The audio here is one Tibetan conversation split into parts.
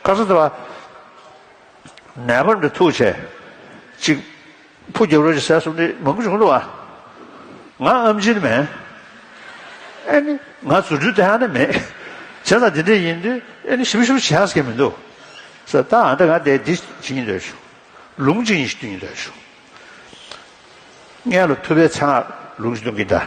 བཀའ་སྩལ་པ། ནད་པ་འདི་ཐུགས་བྱེད་ཅིག། ཕུགས་རྒྱབ་རོལ་གྱི་ཟས་གསུམ་འདི་མང་བྱུང་འགྲོ་བ། ང་ཨམ་ཆིན་མེད། ཨེ་ནི། ང་རྫུ་འཕྲུལ་དེ་ཧ་ནི་མེད། བྱས་ཙང་འདི་འདྲས་ཡིན་དུས་ཨེ་ནི་ཞིབ་ཞིབ་བྱེད་ཨ་ཟེར་མཁན་མི་འདུག། ཟེར་ད་ཨ་འདྲ་ང་འདས་འདི་བྱེད་ཀྱིན་སྡོད་བྱུང། ལུང་གཅིག་ཡིན་ཞིག་བསྟུན་ཀྱིན་སྡོད་བྱུང། མངལ་ལ་ཐུབ་པའི་ཚེ་ང་ལུང་ཞིག་བསྟུན་གྱིན་གདའ།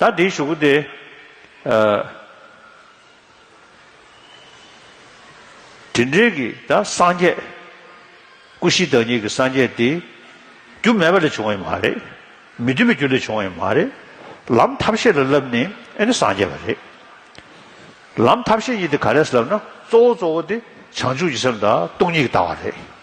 ད་འདིའི་ཞུ་སྒོ་དེ། དེ་འབྲེལ་གྱི་ད་སངས་རྒྱས། སྐུ་བཞི་བདག་ཉིད་ཀྱི་སངས་རྒྱས་དེ། རྒྱུ་མེད་པ་ལས་བྱུང་བ་ཡིན་མ་རེད། མི་མཐུན་པའི་རྒྱུ་ལས་བྱུང་བ་ཡིན་མ་རེད། ལམ་ཐབས་ཤེས་ལ་བསླབ་ནས་ཨེ་ནི་སངས་རྒྱས་པ་རེད། ལམ་ཐབས་ཤེས་གཉིས་དེ་ག་ལས་སླབ་ན་གཙོ་བོ་གཙོ་བོ་དེ་བྱང་ཆུབ་ཀྱི་སེམས་དང་སྟོང་ཉིད་ཀྱི་ལྟ་བ་རེད།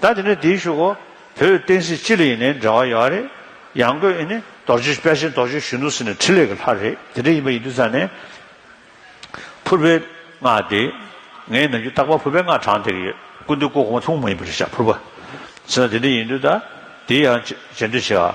ད་དེ་ནས་དེའི་ཤུགས་འོ་བོད་བསྟན་སྲིད་སྤྱི་ལ་ཡིན་ནའི་འབྲེལ་བ་ཡོད་བ་རེད། ཡང་སྒོས་ཨི་ནི་རྡོ་རྗེ་དཔལ་ཆེན་རྡོ་རྗེ་གཞོན་ནུ་ཟེར་ནས་ཕྲིན་ལས་ཀྱི་ལྷ་རེད་དེ་འདྲ་ཡིན་པ་ཡིན་དུས་ས་ནས་ཕུར་པའི་སྔགས་དེ། ངའི་ནང་རྒྱུད་རྟག་པར་ཕུར་པའི་སྔགས་གྲངས་དེར་ཡོད་ཀུན་འདུས་སྐུ་གོང་མ་ཐུང་མ་ཡིན་པ་རེད་བཞག་ཕུར་པ། ཟེར་ན་དེ་འདྲ་ཡིན་དུས་ད་དེའི་ཡང་བཅད་འདོད་ཆེ་ཨ།